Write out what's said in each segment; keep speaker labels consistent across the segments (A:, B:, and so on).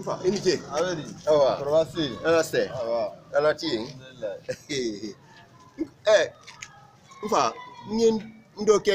A: Nfa, i ni ce. A bɛ di? Awa.
B: Kɔrɔba se
A: yen. Ala sɛ.
B: Awa.
A: Ala ti
B: yen.
A: Alhamdulilayi. Ɛ, nfa, n ye n dɔ kɛ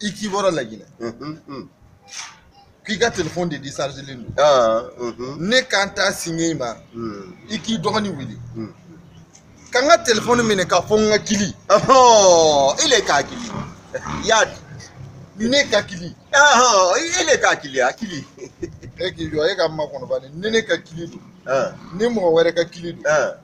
A: i k'i
B: bɔra laginɛ k'i ka telefɔni de disarizilen don ah, mhm. ne ka n ta singa i ma mm. i k'i dɔgɔnin wele mm. ka n ka telefɔni minɛ k'a fɔ n ka kili
A: i le k'a kili y'a
B: di ne ka kili i
A: le k'a kili a kili e k'i jɔ
B: e k'a makɔnɔ ba ni ne ka kili don ah. ni mɔgɔ wɛrɛ ka kili don ah.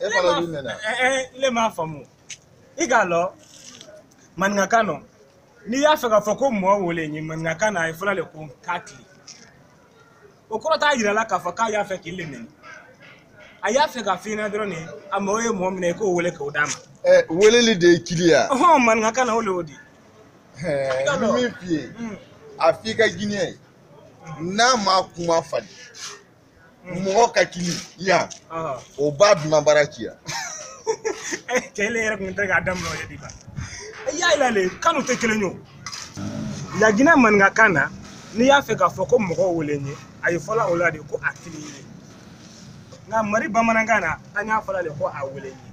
B: e fana olu nana ne m'a
C: faamu i k'a lɔn maninkakan nɔ n'i y'a fɛ k'a fɔ ko mɔɔ wele n ye maninkakan na a ye fɔla le ko k'a kili o kɔrɔ t'a yira la k'a fɔ k'a y'a fɛ k'i le nɛni a y'a fɛ k'a f'i ɲɛna dɔrɔn de a mɔɔ ye mɔɔ min i k'o wele k'o d'a ma ɛ weleli de
B: ye kili ye ɔhɔn maninkakan na o
C: le o di Ɛɛ,
B: n bɛ min f'i ye a f'i ka ginɛyɛn ye n'a ma kuma falen mɔgɔ ka kili yan o b'a dunan bara ci
C: yan kɛlɛ yɛrɛ kun tɛ k'a daminɛ o ye diba y'a yira le kanw tɛ kelen ye o laginɛ maninkakan na n'i y'a fɛ k'a fɔ ko mɔgɔ wele n ye a ye fɔla o la de ko a kili ye nka mali bamanankan na an y'a fɔla de ko a wele n ye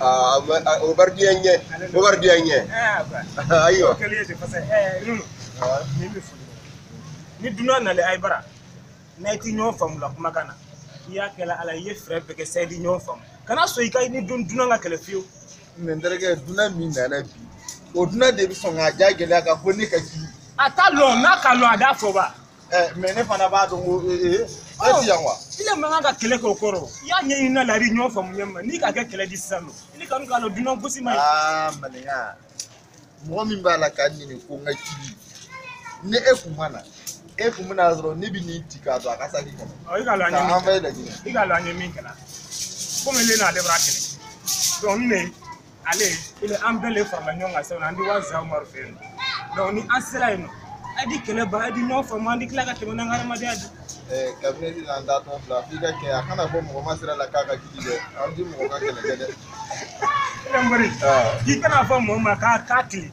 A: Ah, ah, o bara diya n ɲɛ o bara diya n
C: ɲɛ ayiwa ni dunan nale ayi bara n'ayi ti ɲɔgɔn faamula kumakan na i y'a kɛla ala i ye fɛɛrɛ bɛɛ kɛ sa ayi di ɲɔgɔn faamu kana sɔn i ka ni dun dunan ka kɛlɛ fiyewu mais n
B: terikɛ dunan min nana bi o dunan de bɛ sɔn k'a ja gɛlɛya k'a fɔ ne ka kili a t'a lɔn n'a k'a
C: lɔn a
B: t'a
C: fɔ ba
B: Eh, mais
C: ne
B: fana
C: b'a dɔn ko ee
B: eh, eh,
C: ne ti
B: yan
C: wa. i le man kan ka kɛlɛ kɛ o kɔrɔ i y'a ɲɛɲini na lari ɲɔgɔn faamu ɲɛ ma n'i k'a kɛ kɛlɛ di sisan nɔ i ni kan k'a dɔn dunan gosi man ɲi. aa maninka
B: mɔgɔ min b'a la k'a ɲini ko n ka kili ni e kun ma na e kun bɛna sɔrɔ ne bɛ n'i ti k'a to a ka saki kɔnɔ. ɔ i k'a lɔn an ye
C: min kɛla i k'a
B: lɔn an ye min kɛla
C: komi ne n'ale bara kɛlɛ donc ne ale ile an bɛɛ le farala ɲɔgɔn kan sisan an di wa zamari fɛ yen donc ni an sera yen nɔ a di kɛlɛ ban a di ɲɔgɔn faamu an di tila ka tɛmɛ n'an ka hadamadenya di kabineti na
B: an da tɔn fila f'i ka kɛ a kana fɔ mɔgɔ ma sira la k'a ka kili dɛ an ti mɔgɔ ka kɛlɛ
C: kɛ dɛ k'i kana fɔ mɔgɔ ma k'a k'a kili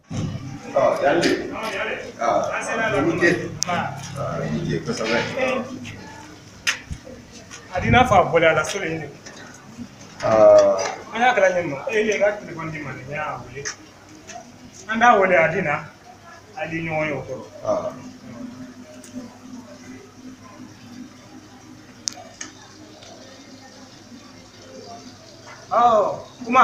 C: A di n'a fɔ a bɔra a la so in de an y'a kɛla ɲɛ ma e y'i ka telefɔni di n ma ne y'a wele an d'a wele a di na a di ɲɔgɔn ye o kɔrɔ ɔ kuma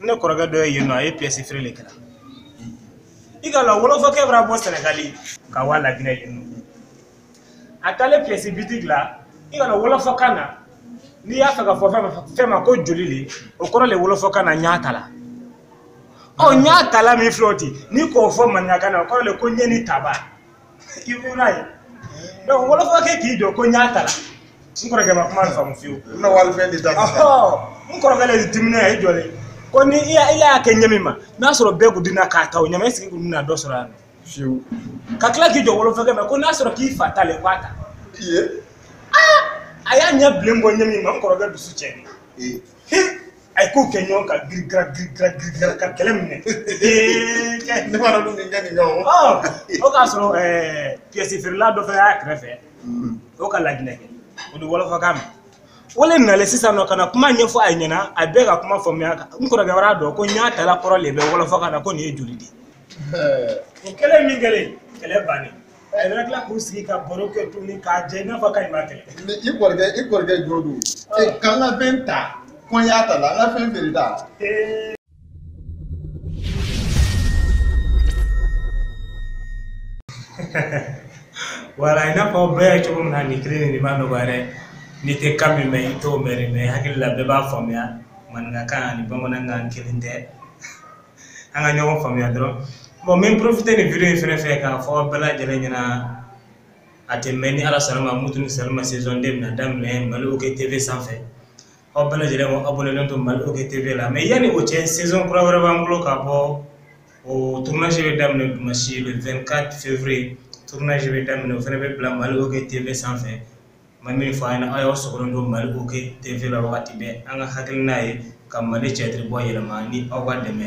C: ne kɔrɔkɛ dɔ ye yen nɔ a ye piyɛsi feere le kɛla i k'a lɔn wolofɔkɛ bara bɔ sɛnɛgali ka wa laginɛ yen nɔ a taalen piyɛsi bitigi la i k'a lɔn wolofɔkan na n'i y'a fɛ k'a fɔ fɛn ma ko joli le o kɔrɔ le wolofɔkan na ɲaata la ɔ ɲaata la min filɛ o di n'i k'o fɔ maninkakan na o kɔrɔ le ko n ye nin ta ba i kun na yen donc wɔlɔfɔ kɛ k'i jɔ ko ɲaata la n kɔrɔkɛ ma kuma faamu fiyewu n na wali fɛn de ta ɔhɔ
B: n kɔrɔkɛ
C: le dimina a y'i jɔ le ko ni ile y'a kɛ ɲa min ma n'a sɔrɔ bɛɛ kun di na k'a ta o ɲa ma esike kun di na dɔ sɔrɔ yan
B: fiyewu ka tila
C: k'i jɔ wolofɔkɛ ma ko n'a sɔrɔ k'i fa ta le ko a ta
B: i ye
C: a y'a ɲa bilen bɔ ɲa min ma n kɔrɔkɛ dusu cɛnnen ayi k'u kɛ ɲɔgɔn kan girikira girikira girikira ka kɛlɛ minɛ
B: ne b'a dɔn nin ka nin kɛ o o k'a sɔrɔ
C: piyɛsi feerela dɔ fana y'a kɛrɛfɛ o ka laginɛ kɛ o di wɔlɔfɔkan mɛn o le nalen sisan nɔ ka na kuma ɲɛfɔ ayi ɲɛna a bɛɛ ka kuma faamuya n kɔrɔkɛ wara a dɔn ko ɲaata la kɔrɔ le bɛ wɔlɔfɔkan na ko nin ye joli di o kɛlen min kɛlen kɛlɛ bannen ayi wara tila k'u sigi ka baro kɛ tuguni k'a kɛ i n'a fɔ k'ayi ma kɛlɛ Ni i kɔrɔkɛ
B: i kɔrɔkɛ jo don e k'an ka fɛn ta ko n y'a ta la an ka fɛn feere ta ee
C: wala i n'a fɔ bɛɛ ye cogo min na nin kelen nin de ma nɔgɔya dɛ n'i tɛ kan min mɛn i t'o mɛn dɛ mɛ hakili la bɛɛ b'a faamuya maninkakan ani bamanankan kelen tɛ an ka ɲɔgɔn faamuya dɔrɔn bɔn n bɛ porofite nin video in fɛnɛ fɛ k'a fɔ aw bɛɛ lajɛlen ɲɛna a tɛ mɛn ni ala sɔnn'a ma mutu ni salima saison 2 bɛna daminɛ mali oke tv sanfɛ aw bɛɛ lajɛlen k'aw abonelen to mali oke tv la mɛ yanni o cɛ saison kura wɛrɛ b'an bolo k'a bɔ o tournage bɛ daminɛ dimanche le 24 février tournage bɛ daminɛ o fɛnɛ bɛ bila mali oke tv sanfɛ ma min fɔ aw ɲɛna aw sɔrɔ don mali oke tv la wagati bɛɛ an ka hakilina ye ka mali tiyatiri bɔ yeelen ma ni aw ka dɛmɛ